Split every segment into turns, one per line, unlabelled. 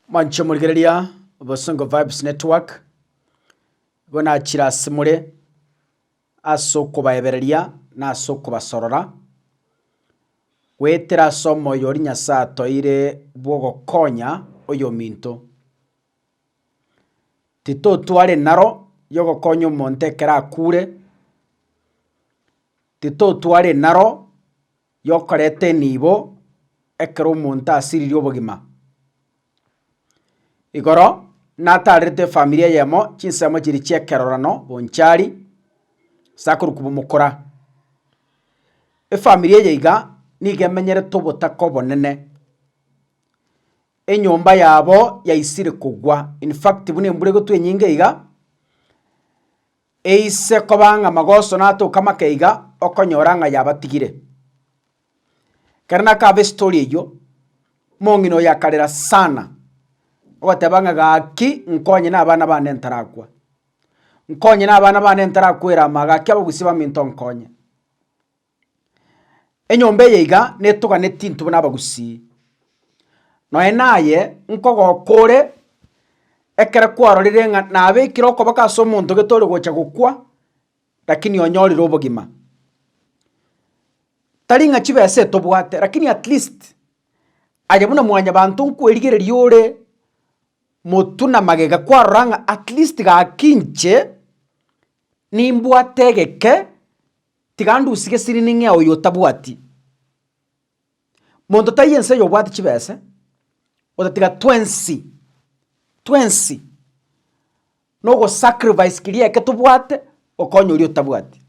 Mwanche morigereria Bosongo Vibes Network, igo nachire ase more ase okobaebereria na ase okobasorora, goetera ase omoyo oria Nyasae atoire bw'ogokonya oyominto. Titotwara enaro y'ogokonya omonto ekero akure, titotwara enaro y'okoreta enibo ekero omonto asiririe obogima. Igoro nataarerete efamiri eyemo chinsemo chiria chi'ekerorano bonchari sakuru komomokora. Efamiri eye iga nigo emenyerete obotaka obonene, enyomba yabo yaisire kogwa, in fact buna embura egotwa enyinge iga. Eise koba ng'a magoso natoke amake iga, okonyora ng'a yabatigire. Ekero nakaba estori eyio, omong'ina oyo akarera sana, ogoteba ng'a gaki nkonye na abana bane ntarakwa, nkonye na abana bane ntarakwera ama, gaki abagusia baminto nkonye. Enyomba eye iga netoganeti intwe buna abagusii, nonya naye nkogoka ore ekero kwarorire ng'a nabekire okoboko ase omonto gete ore gocha gokwa, rakini onyorire obogima. Tari ng'a chibesa etobwate rakini at least aye buna mwanyabanto nkwerigereria ore motwe na magega kwarora ng'a at least gaki inche nimbwate egeke. Tiga ndusige siri ning'ea oyo otabwati. Monto taiyo ense oyo obwate chibese, otatiga twensi, twensi nogosacrifice keria eke tobwate okonye oria otabwati.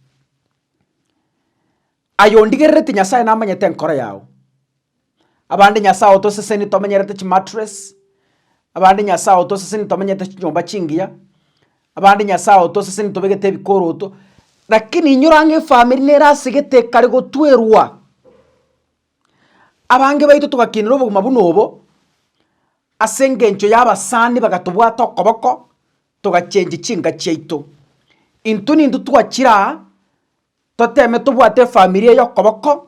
Aye ondigerereti Nyasaye namanyete enkoro yao, Abande Nyasae otoseseni tomenyerete chimatress, abande Nyasae otoseseni tomenyete chinyomba chingiya, abande Nyasae otoseseni tobegete ebikoroto, lakini inyora ang'e efamiri nere ase gete ekare gotwerwa. Abange baito togakinerwa obogima buna obo ase engencho y'abasani bagatobwata okoboko togachengi chinka chiaito. Intwe nintwe twachire aa toteme tobwate efamiri eye okoboko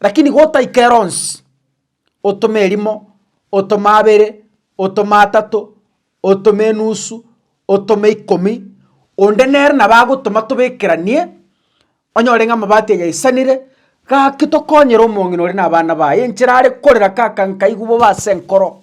Lakini gotaika ero onsi, otome erimo, otome abere, otome atato, otome enusu, otome ikomi, onde nere nabo agotoma tobekeranie, onyore ng'a amabati aye aisanire, gaki tokonyere omong'ina ore na abana baye enchera are korera, Kaka nkaigwa bobe ase enkoro.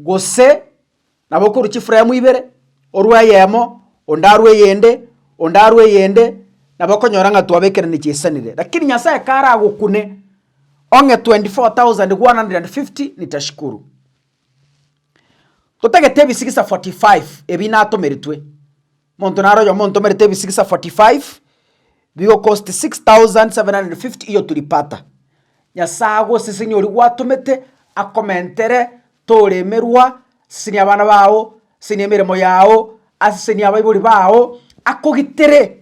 gose nabo okorwa chifuremu ibere, orwe eyemo, onde arwe eyende, onde arwe eyende, nabo okonyora ng'a twabekeranirie chisanire. Lakini Nyasae karagokune ong'e 24,150 nitashukuru. Totagete ebisigisa 45 ebi natomeretwe, Monto naro oyomo ontomerete ebisigisa 45 bigokosti 6,750 iyo tulipata. Nyasae agosesenie oria gwatomete akomentere tore emerwa, asesenie abana bao, asesenie emeremo yao, asesenie abaibori bao, akogitere.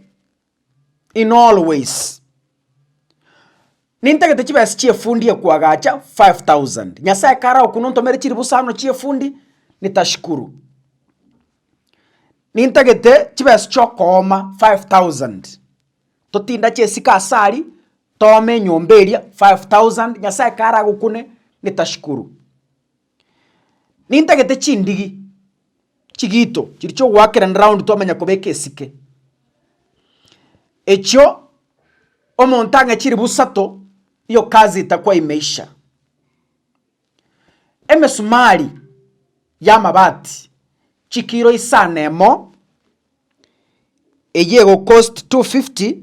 in all ways. Nintagete chibesa chiefundi ekwagacha 5000 nyasaye kare okwo nontomere chiribusano chiefundi nitashukuru. Nintagete chibesa chiokooma 5000 totinda chiesiko ase aria toome enyomba eria 5000 nyasaye kare agokune nitashukuru. Nintagete chindigi chigito chiria chi'ogoakerana round twamanya kobeka esike. Echio omonto ang'e chiribu isato, hiyo kazi itakuwa imeisha. Emesumari y'amabati chikiro isano emo, eyio egocost two fifty.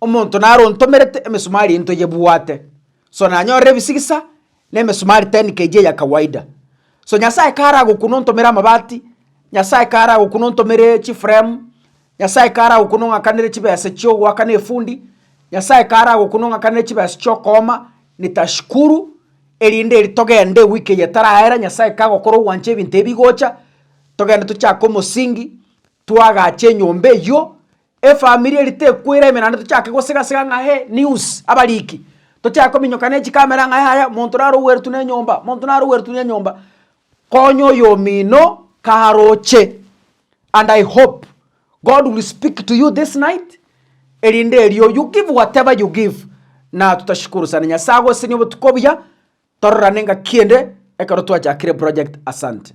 Omonto narontomerete emesumari intwe yebwate, so nanyorere ebisigisa na emesumari 10 kg eya kawaida. So Nyasae karagokuna ontomere amabati, Nyasae karagokuna ontomere chifremu, Nyasae karagokuna ong'akanere chibesa chiogoakana efundi, Nyasae karagokuna ong'akanere chibesa chiokooma, nitashukuru, erinde eri togende ewiki eye etaraera Nyasae kagokora ogwancha ebinto ebi bigocha, togende tochake omosingi, twagache enyomba eyio, Efamiri eri tekwera ime naende tochake gosegasega ng'a hee news abariki, tochake kominyoka ne chikamera ng'a yaya monto naro ogweretu na enyomba, monto naro ogweretu na enyomba. Konya oyomino karoche and I hope God will speak to you this night erinde erio you give whatever you give na totashikorosani. Nyasaye agosesenie obotuko obuya tororane ngaki ende ekero twachakire project. Asante.